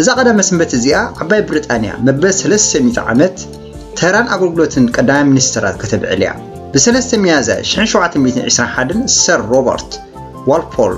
እዛ ቀዳመ ስንበት እዚኣ ዓባይ ብሪጣንያ መበል ሰለስተ ሚእቲ ዓመት ተራን ኣገልግሎትን ቀዳማይ ሚኒስተራት ከተብዕል እያ። ብሰለስተ ሚያዝያ ሽሕን ሸውዓተ ሚእትን ዒስራን ሓደን ሰር ሮበርት ዋልፖል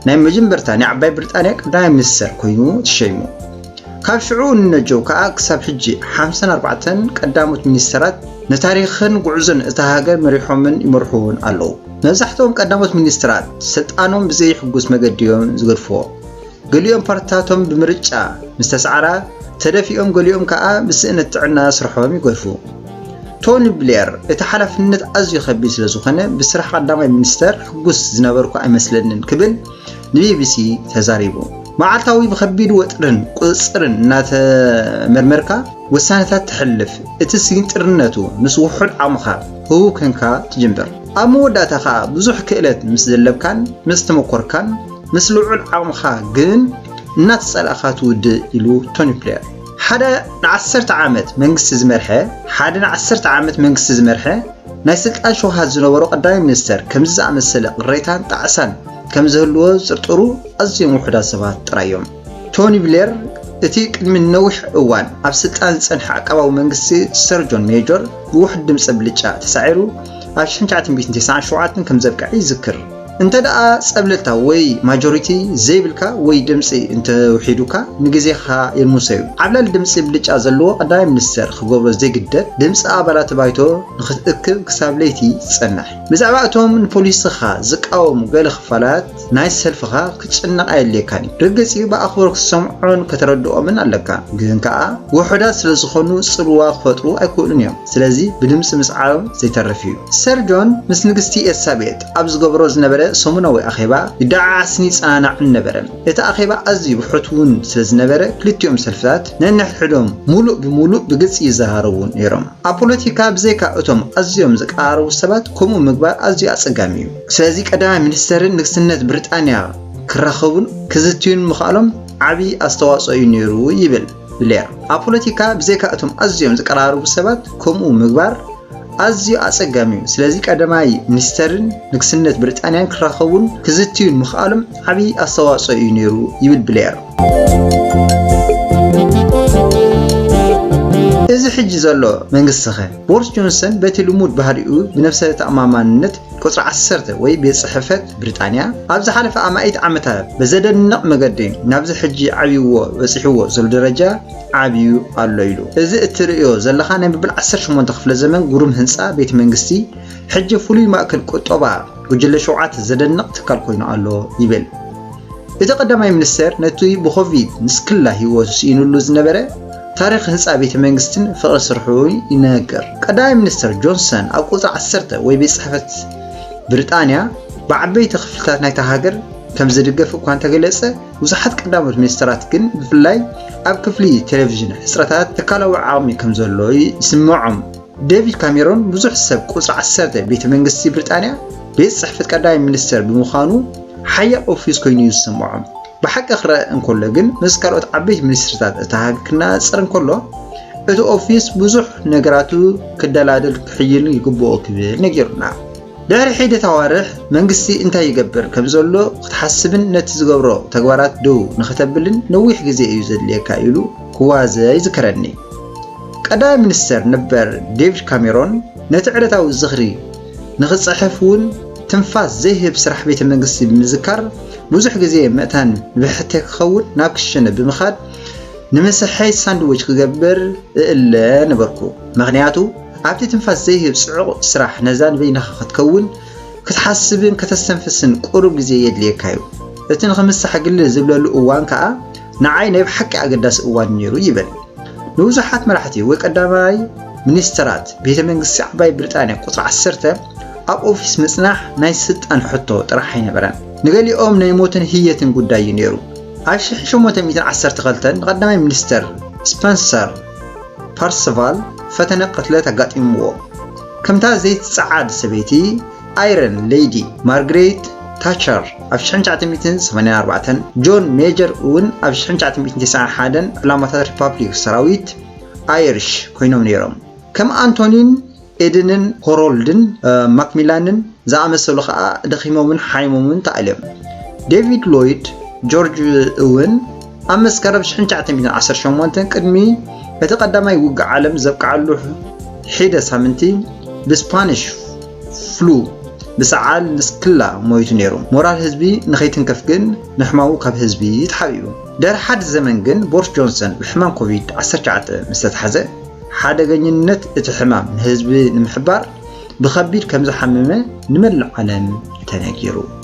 ናይ መጀመርታ ናይ ዓባይ ብሪጣንያ ቀዳማይ ሚኒስተር ኮይኑ ተሸይሙ። ካብ ሽዑ ንነጀው ከኣ ክሳብ ሕጂ ሓምሳን ኣርባዕተን ቀዳሞት ሚኒስተራት ንታሪኽን ጉዕዞን እታ ሃገር መሪሖምን ይመርሕዎን ኣለዉ። መብዛሕትኦም ቀዳሞት ሚኒስተራት ስልጣኖም ብዘይሕጉስ መገዲ እዮም ዝገድፍዎ። ገሊኦም ፓርትታቶም ብምርጫ ምስ ተሳዕራ ተደፊኦም ገሊኦም ከኣ ብስእነት ጥዕና ስርሖም ይገድፉ። ቶኒ ብሌር፣ እቲ ሓላፍነት ኣዝዩ ከቢድ ስለ ዝኾነ ብስራሕ ቀዳማይ ሚኒስተር ሕጉስ ዝነበርኩ ኣይመስለንን ክብል ንቢቢሲ ተዛሪቡ። መዓልታዊ ብከቢድ ወጥርን ቁጽጽርን እናተመርመርካ ውሳነታት ተሕልፍ፣ እቲ ስግንጢርነቱ ምስ ውሑድ ዓቕምኻ ህቡብ ኴንካ ትጅምር። ኣብ መወዳእታ ከኣ ብዙሕ ክእለት ምስ ዘለብካን ምስ ተመኮርካን፣ ምስ ልዑል ዓቕምኻ ግን እናተጸላእካ ትውድእ ኢሉ ቶኒ ብሌር። ሓደ ንዓሰርተ ዓመት መንግስቲ ዝመርሐ ሓደ ንዓሰርተ ዓመት መንግስቲ ዝመርሐ ናይ ስልጣን ሸውሃት ዝነበሮ ቀዳማይ ሚኒስተር ከምዚ ዝኣመሰለ ቅሬታን ጣዕሳን ከም ዝህልዎ ዝጥርጥሩ ኣዝዮም ውሑዳት ሰባት ጥራይ እዮም። ቶኒ ብሌር እቲ ቅድሚ ነዊሕ እዋን ኣብ ስልጣን ዝጸንሐ ዓቃባዊ መንግስቲ ሰር ጆን ሜጆር ብውሑድ ድምጺ ብልጫ ተሳዒሩ ኣብ ሽሕን ትሽዓተ ሚእትን ተስዓን ሸውዓተን ከም ዘብቅዐ ይዝክር። እንተድኣ ጸብለልታ ወይ ማጆሪቲ ዘይብልካ ወይ ድምጺ እንተውሒዱካ ንግዜኻ ይርምሰዩ። ዓብላሊ ድምጺ ብልጫ ዘለዎ ቀዳማይ ሚኒስተር ክገብሮ ዘይግደድ ድምጺ ኣባላት ባይቶ ንኽትእክብ ክሳብ ለይቲ ትጸንሕ። ብዛዕባ እቶም ንፖሊስኻ ዝቃወሙ ገለ ክፋላት ናይቲ ሰልፍኻ ክትጭነቕ ኣየድልየካንዩ። ርግጽዩ ብኣኽብሮ ክትሰምዖን ከተረድኦምን ኣለካ። ግን ከኣ ውሑዳት ስለ ዝኾኑ ጽልዋ ክፈጥሩ ኣይክእሉንዮም። ስለዚ ብድምጺ ምስዓሮም ዘይተርፍዩ። ሰርጆን ምስ ንግስቲ ኤልሳቤጥ። ኣብ ዝገብሮ ዝነበረ ሰሙናዊ ኣኼባ ይደዓዓስን ይጸናናዕን ነበረ። እቲ ኣኼባ ኣዝዩ ብሕትውን ስለ ዝነበረ ክልቲኦም ሰልፍታት ነንሕድሕዶም ምሉእ ብምሉእ ብግልጺ ይዘራረቡ ነይሮም። ኣብ ፖለቲካ ብዘይካ እቶም ኣዝዮም ዝቀራረቡ ሰባት ከምኡ ምግባር ኣዝዩ ኣጸጋሚ እዩ። ስለዚ ቀዳማይ ሚኒስተርን ንግስነት ብሪጣንያ ክራኸቡን ክዝትዩን ምኽኣሎም ዓቢ ኣስተዋጽኦ እዩ ነይሩ ይብል። ብሌያ። ኣብ ፖለቲካ ብዘይካ እቶም ኣዝዮም ዝቀራረቡ ሰባት ከምኡ ምግባር ኣዝዩ ኣጸጋሚ እዩ፣ ስለዚ ቀዳማይ ሚኒስተርን ንግስነት ብሪጣንያን ክራኸቡን ክዝትዩን ምኽኣሎም ዓቢ ኣስተዋጽኦ እዩ ነይሩ ይብል ብሌር። እዚ ሕጂ ዘሎ መንግስቲኸ? ቦርስ ጆንሰን በቲ ልሙድ ባህሪኡ ብነብሰ ተኣማማንነት ቁጽሪ ዓሰርተ ወይ ቤት ጽሕፈት ብሪጣንያ ኣብ ዝሓለፈ ኣማኢት ዓመታት ብዘደንቕ መገዲ ናብዚ ሕጂ ዓብይዎ በጺሕዎ ዘሎ ደረጃ ዓብዩ ኣሎ ኢሉ። እዚ እትርእዮ ዘለኻ ናይ መበል ዓሰርተ ሸሞንተ ክፍለ ዘመን ግሩም ህንጻ ቤት መንግስቲ ሕጂ ፍሉይ ማእከል ቁጠባ ጉጅለ ሸውዓተ ዘደንቕ ትካል ኮይኑ ኣሎ ይብል። እቲ ቀዳማይ ሚኒስተር ነቲ ብኮቪድ ንስክላ ህይወቱ ስኢኑሉ ዝነበረ ታሪኽ ህጻ ቤተ መንግስትን ፍቕሪ ስርሑ ይነግር። ቀዳማይ ሚኒስተር ጆንሰን ኣብ ቁጽሪ ዓሰርተ ወይ ቤት ጽሕፈት ብሪጣንያ ብዓበይቲ ክፍልታት ናይታ ሃገር ከም ዝድገፍ እኳ እንተገለጸ፣ ብዙሓት ቀዳሞት ሚኒስተራት ግን ብፍላይ ኣብ ክፍሊ ቴሌቪዥን ሕጽረታት ትካላዊ ዓቕሚ ከም ዘሎ ይስምዖም። ዴቪድ ካሜሮን ብዙሕ ሰብ ቁጽሪ ዓሰርተ ቤተ መንግስቲ ብሪጣንያ ቤት ጽሕፈት ቀዳማይ ሚኒስተር ብምዃኑ ሓያል ኦፊስ ኮይኑ እዩ ዝስምዖም። ብሓቂ ክረኣ እንከሎ ግን ምስ ካልኦት ዓበይቲ ሚኒስትሪታት እታ ሃገር ክነጻጸር እንከሎ እቲ ኦፊስ ብዙሕ ነገራቱ ክደላደል ክሕይል ይግብኦ ክብል ነጊሩና። ድሕሪ ሒደት ኣዋርሕ መንግስቲ እንታይ ይገብር ከም ዘሎ ክትሓስብን ነቲ ዝገብሮ ተግባራት ደው ንኸተብልን ነዊሕ ግዜ እዩ ዘድልየካ ኢሉ ክዋዘ ይዝከረኒ። ቀዳማይ ሚኒስተር ነበር ዴቪድ ካሜሮን ነቲ ዕለታዊ ዝኽሪ ንኽጽሕፍ እውን ትንፋስ ዘይህብ ስራሕ ቤተ መንግስቲ ብምዝካር ብዙሕ ግዜ መእታኒ ንብሕተይ ክኸውን ናብ ክሽነ ብምኻድ ንምሳሐይ ሳንድዊች ክገብር እእለ ነበርኩ። ምኽንያቱ ኣብቲ ትንፋስ ዘይህብ ጽዑቕ ስራሕ ነዛ ንበይንኻ ክትከውን፣ ክትሓስብን ከተስተንፍስን ቁሩብ ግዜ የድልየካ'ዩ። እቲ ንኽምሳሕ ግልል ዝብለሉ እዋን ከኣ ንዓይ ናይ ብሓቂ ኣገዳሲ እዋን ነይሩ ይብል። ንብዙሓት መራሕቲ ወይ ቀዳማይ ሚኒስተራት ቤተ መንግስቲ ዓባይ ብሪጣንያ ቁጽሪ ዓሰርተ ኣብ ኦፊስ ምጽናሕ ናይ ስልጣን ሕቶ ጥራሕ ኣይነበረን። ንገሊኦም ናይ ሞትን ህየትን ጉዳይ እዩ ነይሩ። ኣብ ሽሕ ሸሞንተ ሚእትን ዓሰርተ ክልተን ንቀዳማይ ሚኒስተር ስፐንሰር ፐርስቫል ፈተነ ቅትለት ኣጋጢምዎ። ከምታ ዘይትጸዓድ ሰበይቲ፣ ኣይረን ለይዲ ማርግሬት ታቸር ኣብ 1984ን ጆን ሜጀር እውን ኣብ 1991ን ዕላማታት ሪፓብሊክ ሰራዊት ኣይሪሽ ኮይኖም ነይሮም። ከም ኣንቶኒን ኤድንን ሆሮልድን ማክሚላንን ዝኣመሰሉ ከኣ ደኺሞምን ሓይሞምን ተኣልዮም። ዴቪድ ሎይድ ጆርጅ እውን ኣብ መስከረም ሽሕን ትሽዓተ ሚእትን ዓሰርተ ሸሞንተን ቅድሚ እቲ ቀዳማይ ውግእ ዓለም ዘብቅዓሉ ሒደ ሳምንቲ ብስፓኒሽ ፍሉ ብሰዓል ንስክላ ሞይቱ ነይሩ። ሞራል ህዝቢ ንኸይትንከፍ ግን ንሕማሙ ካብ ህዝቢ ተሓቢኡ። ድሕሪ ሓደ ዘመን ግን ቦሪስ ጆንሰን ብሕማም ኮቪድ ዓሰርተ ትሽዓተ ምስ ተታሕዘ ሓደገኝነት እቲ ሕማም ንህዝቢ ንምሕባር ብኸቢድ ከምዝሓመመ ንመላእ ዓለም ተነጊሩ።